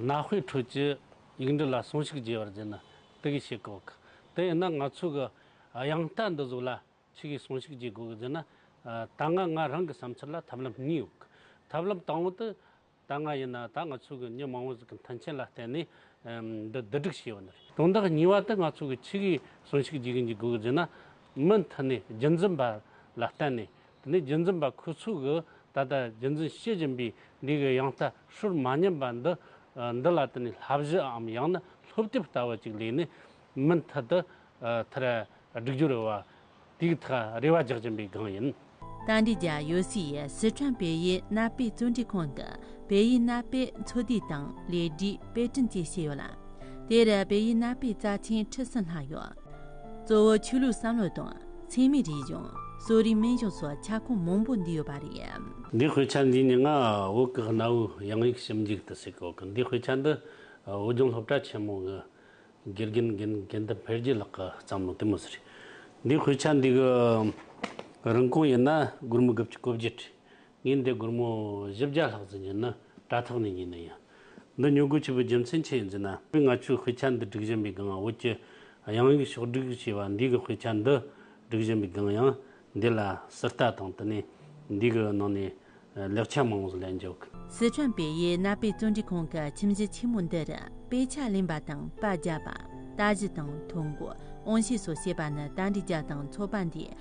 གནའ་དཔེའི་ཁྲོད་ཀྱི་ཡིག་འབྲི་ལ་ཟུངས་ཤུགས་རྒྱས་པར་བརྒྱུད་ན་དེ་གས་ཤེས་དགོས་ཀི། དེ་ཡིན་ན་ང་ཚོས་གི་དབྱངས་རྟ་འདི་གཟུགས་ལ་ཆི་གས་ཟུངས་ཤུགས་རྒྱས་དགོས་ཀི་ཟེར་ན། ད་སྔ་ང་རང་གི་བསམ་ཚུལ་ལ་ཐབས་ལམ་གཉིས་ཡོད་ཀི། ཐབས་ལམ་དང་བོ་དི་ད་སྔ་ཡིན་ན་ད་ང་ཚོས་གི་མྱི་མང་བོ་ཟིག་གི་མཐུན་རྐྱེན་ལ་བརྟེན་ནས་འདི་བསྡུ་སྒྲིག་བྱས་ཡོད་ནི་རེད། དོན་དག་གཉིས་པ་དི་ང་ཚོས་གི་ཆི་གས་ཟུངས་ཤུགས་རྒྱས་གི་འཇུག་དགོས་ཀི་ཟེར་ན། མི་མཐུན་ནས་རྒྱུན་འཛིན་པ་ལ་བརྟེན་ནས་དེ་ནས་རྒྱུད་འཛིན་པ་ཁོས་ཚུལ་གྱིས་ད་ལྟ་རྒྱུད་འཛིན་ཤེས་བཞིན་པའི་ལུས་ཀྱི་ཡང་ལྟ་ཧྲུལ་མ་ཉམས་པ་འདི་འདི་ལ་དེ་ནས་ལྷ་བཞི་འམ་ཡང་ན་ལྷོ་བསྐྱིབས་ལྟ་བུ་ཅིག་ལས་ནི་མི་མཐུད་དུ་མཐར་སྒྲིག་སྦྱོར་རེ་བ་དུས་ཐག་རེ་བ་རྒྱག་བཞིན་པའི་སྒང་ཡིན། ཏཱ་འདི་རྒྱ་ཡོ་སི་ཡིས་སི་ཁྲོན་བལ་ཡུལ་གནའ་དཔེ་བཙོན་འཁྲིད་ཁང་དུ་བལ་ཡུལ་གནའ་དཔེ་འཚོལ་བསྡུས་དང་ལས་སྒྲིག་དཔེ་སྐྲུན་བཅས་བྱས་ཡོད་ལ། དེར་བལ་ཡུལ་གནའ་དཔེ་རྩ་ཆེན་ཁྲི་སྲིན་ལྷག་ཡོད། གཙོ་བོ་ཆོས་ལུགས་བསམ་བློ་དང་འཚེ་མེད་རིག་གཞུང་གསོ་རིག་སྨན་གཞུང་སོགས་ཁྱབ་ཁོངས་མང་པོ་འདུས་ཡོད་པ་རེད། འདིའི་དཔེ་ཆ་འདིའི་ནི་ངག་འོག་གི་གནའ་བོའི་དབྱངས་ཡིག་ཞིབ་འཇུག་ཏུ་གཟིགས་གོ་གིན་འདིའི་དཔེ་ཆ་འདི་བོད་ལྗོངས་སློབ་གྲྭ་ཆེན་མོ་གི་དགེ་རྒན་དགེ་འདུན་འཕེལ་རྒྱས་ལགས་ཀྱི་བསམ་བློ་དེ་མི་ཟེར། འདིའི་དཔེ་ཆ་འདི་གི་རིན་གོང་ཡིན་ན་སྒོར་མོ་དགུ་བཅུ་གོ་བརྒྱད་ཁྲི་ཉིན་དེ་སྒོར་མོ་བཞི་བརྒྱ་ལྷག་ཙམ་ཡིན་ན་དྲ་ཐག་ནས་ཉོས་ནས་ཡིན། འདི་ཉོ་དགོས་ཆེད་པའི་རྒྱུ་མཚན་ཆེད་ཡིན་ཟེར་ན། ང་ཚོས་དཔེ་ཆ་འདི་སྒྲིག་བཞིན་པའི་སྒང་བོད་ཀྱི་དབྱངས་ཡིག་ཕྱོགས་བསྒྲིགས་ཞེས་པ་འདི་གི་དཔེ་ཆ་འདི་སྒྲིག་བཞིན་པའི་སྒང་ཡང་འདི་ལ་སི་རྟ་དང་དེ་ནས་འདི་གི་ནང་ནས་ལེགས་ཆ་མང་བོ་ལེན་འཇུག། སི་ཁྲོན་པེ་ཡི་གནའ་དཔེ་བརྩོན་འགྲུས་ཁང་གི་ཁྱིམ་གཞི་ཆེན་མོ་འདིར་དཔེ་ཆ་ལེན་པ་དང་པར་རྒྱག་པ། ལྟ་གཞི་དང་ཐོ་འགོད་དབང་ཤེས་སོགས་བྱེད་པ་ནི་ད་ལྟའི་རྒྱ་དང་ཚོ་པ་འདིའི་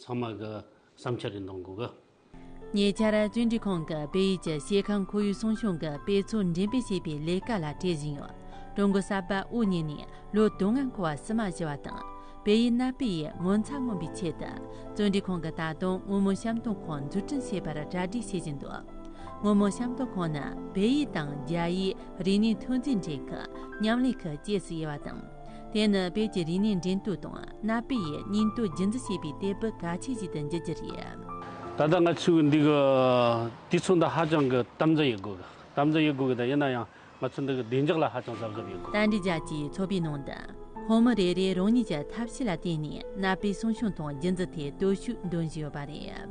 ཚང་མ་གི་བསམ་འཆར་རེ་འདོན་དགོས་གི། ཉེ་ཆར་གཅིག་འབྲི་ཁང་གི་བོད་ཡིག་གི་ཤེལ་ཁང་ཁོར་ཡུག་སྲུང་སྐྱོང་གི་དཔེ་ཚོགས་འགྲེམས་སྤེལ་བྱེད་པའི་ལས་ཀ་ལ་བྲེལ་བཞིན་ཡོད། ཀྲུང་གོ་གསར་པ་དབུ་བརྙེས་ནས་ལོ་དུ་ལྔ་འཁོར་བ་བསུ་མ་ཞུ་བ་དང་བོད་ཡིག་གནའ་དཔེ་ཡི་ངོ་མཚར་མངོན་པའི་ཆེད་དུ་གཙོས་འབྲི་ཁང་གིས་ད་དུང་སྔོན་མོ་བཤམས་སྟོན་ཁང་འཛུགས་སྐྲུན་བྱེད་པར་གྲ་སྒྲིག་བྱེད་བཞིན་འདུག་སྔོན་མོ་བཤམས་སྟོན་ཁང་ནི་བོད་ཡིག་དང་རྒྱ་ཡིག་རིག་གནས་ཐོན་རྫས་འདྲེན་ཁུལ་མཉམ་ལས་ཁུལ་བཅས་སུ་དབྱེ་བ་དང། དེ་ནི་དཔེ་ཀྱི་རིག་གནས་འགྲན་བསྡུར་དང་གནའ་དཔེ་ཡི་སྙིང་སྟོབས་རྒྱུན་འཛིན་བྱེད་པའི་སྟེགས་བུ་གལ་ཆེ་ཞིག་ཏུ་འགྱུར་རྒྱུ་རེད། ད་ལྟ་ང་ཚོས་འདི་གི་དུས་མཚུངས་དང་ཧ་ཅང་གི་དམ་འཛིན་ཡོད་དགོས། དམ་འཛིན་ཡོད་དགོས་ཀྱི་དང་ཡིན་ན་ཡང་ང་ཚོས་འདི་གི་བདེ་འཇགས་ལ་ཧ་ཅང་གཟབ་གཟབ་ཡོད་དགོས། ཏཱ་འབྲི་རྒྱལ་གྱིས་ཚོགས་པའི་ནང་དུ། ཁོང་མི་རེ་རེས་རང་ཉིད་ཀྱི་ཐབས་ཤེས་ལ་བརྟེན་ནས་གནའ་དཔེ་གསོ་སྐྱོང་དང་རྒྱུན་འཛིན་ཐད་སྟོབས་ཤུགས་འདོན་བཞིན་ཡོད་པ་རེད།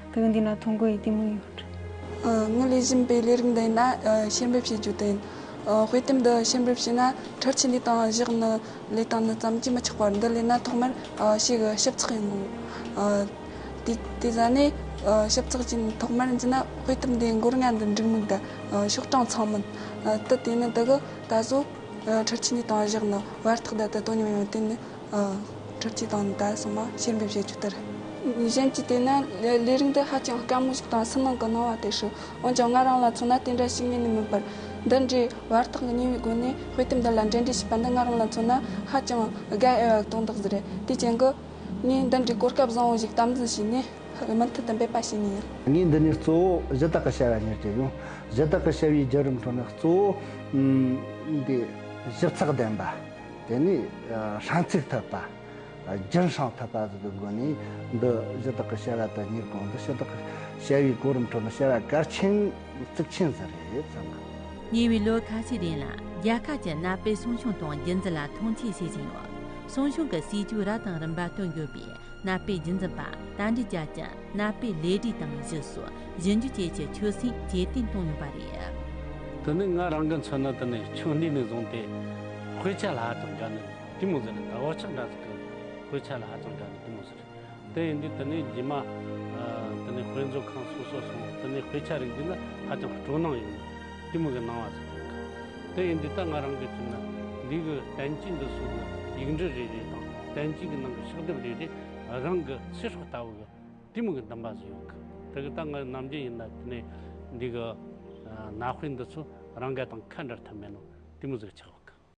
དོན་འདི་ལ་ཐོ་འགོད་ཡི་གེ་མང་ཡོད་རེད། ངས་ལས་བཞིན་པའི་ལས་རིགས་འདི་ན་ཤེས་འབེབས་བྱེད་རྒྱུ་དེ་ཡིན། དཔེ་དེབ་འདི་ཤེས་འབེབས་བྱས་ན་འཕྲུལ་ཆས་ལས་དང་གཞག་ནི་ལས་དང་ནི་ཙམ་གྱིས་མི་ཆགས་པར་འདི་ལས་ན་ཐོག་མར་ཕྱེ་གི་ཞིབ་ཚགས་ཡིན་དགོས། དེ་ཟ་ནས་ཞིབ་ཚགས་ཀྱིས་ཐོག་མར་འཛིན་ན་དཔེ་དེབ་འདིའི་མགོར་ང་འདི་འགྲིག་མིན་དང་ཤོག་གྲངས་ཚང་མིན་དུ་དེ་ནི་འདི་གི་ད་གཟོད་འཕྲུལ་ཆས་ལས་དང་གཞག་ནི་བར་ཐག་ད་ལྟ་དོ་སྙོམས་ཡོད་དེ་ནི། ཁྲོ་སྐྱིད་དང་ནི་དར་སོགས་མ་བྱེར་འབེབས་བྱེད་རྒྱུ་ལྟར། གཞན་གྱི་དེ་ནི་ལས་རིགས་འདི་ཧ་ཅང་དཀའ་མོ་ཞིག་དང་སུན་སྣང་གི་སྣང་བ་དེ་ཞིག་འོན་ཀྱང་ང་རང་ལ་མཚོན་ན་དེ་འདྲ་ཞིག་ངེས་ནས་མིན་པར། འདི་འདྲའི་བར་ཐག་གི་ཉེ་བའི་སྒོ་ནས་དཔེ་དེབ་འདི་ལ་འབྲེལ་འདྲིས་བྱས་པ་འདི་ང་རང་ལ་མཚོན་ན་ཧ་ཅང་དགའ་ཨེ་བའི་དོན་དག་ཟིག་རེད། དེའི་རྐྱེན་གྱིས། ངས་འདི་འདྲའི་གོ་སྐབས་བཟང་བོ་ཞིག་དམ་འཛིན་བྱས་ནས་མུ་མཐུད་དུ་འབད་པ་བྱེད་ངེས་ཡིན། ངས་འདི་ནས་གཙོ་བོ་གཞི་བདག་གི་བྱ་བ་གཉེར་གྱི་ཡིན། གཞི་བདག་གི་བྱ་བའི་བརྒྱུད་རིམ་ཁྲོད་ནས་གཙོ་བོ། ཞིབ་ཚགས་ལྡན་པ། དེ་ནས་ཧྲན་ཚིག་ཐོད་པ། རྒྱུན་བསྲང་ཐོད་པ་སོགས་ཀྱི་སྒོ་ནས་འདི་གཞི་བདག་གི་བྱ་བ་དོན་གཉེར་གང་འདི་ཕྱི་བདག་གི་བྱ་བའི་གོ་རིམ་ཁྲོད་ནས་བྱ་བ་གལ་ཆེན་གཙིགས་ཆེན་ཟེར་རེད་བསམ་གི། ཉེ་བའི་ལོ་ཁ་ཤས་རིང་ལ་རྒྱལ་ཁབ་ཀྱིས་གནའ་དཔེ་སྲུང་སྐྱོང་དང་རྒྱུན་འཛིན་ལ་མཐོང་ཆེན་བྱེད་བཞིན་ཡོད། སྲུང་སྐྱོང་གི་སྲིད་ཇུས་རབ་དང་རིམ་པ་བཏོན་ཡོད་པས་གནའ་དཔེ་རྒྱུན་འཛིན་པར་དང་དུ་བཅར་ཅིང། གནའ་དཔེ་ལས་བྲིས་དང་བཞི་སོགས་བཞི་འཇུ་བཅས་ཀྱི་ཆོས་སྲིད་རྒྱས་བསྟེན་གཏོང་ཡོད་པ་རེད། དེ་ནི་ང་རང་གི་མཚོན་ན་དེ་ནི་ཆུང་དུས་ནས་བཟུང་སྟེ་དཔེ་ཆ་ལ་ཧ་ཅང་དགའ་ནས་དེ་མོ་ཟེར་ཟླ་བ་ཆགས་འདྲ་ཟེར་གི་དཔེ་ཆ་ལ་ཧ་ཅང་དགའ་ནས་དེ་མོ་ཟེར། དེ་ཡིན་དུས་དེ་ནས་རྗེས་མ་དེ་ནས་དཔེ་མཛོད་ཁང་སོ་སོར་སོང་བ་དེ་ནས་དཔེ་ཆ་རིག་འཛིན་ལ་ཧ་ཅང་སྤྲོ་སྣང་ཡོད་ནས་དེ་མོ་གི་སྣང་བ་ཟེར་གི། དེ་ཡིན་དུས་ད་ང་རང་གི་མཚོན་ན་འདི་གི་བསྟན་བཅོས་འདི་སོགས་ཀྱི་ཡིག་འབྲི་རེ་རེ་དང་བསྟན་བཅོས་ཀྱི་ནང་གི་ཕྱག་དེབ་རེ་རེ་རང་གི་ཚེ་སྲོག་ལྟ་བུ་གི་གཏི་མུག་གི་འདུན་པ་བཟོས་ཡོང་གི། དེ་གི་སྟངས་ངག་ནམ་རྒྱུན་ཡིན་ན་དེ་ནས་འདི་གི་ནག་དཔེ་འདི་ཚོ་རང་འགལ་དང་ཁ་འདྲར་ཐབས་མེད་ནོ་གཏི་མུག་ཟིག་ཆགས་ཡོང་གི།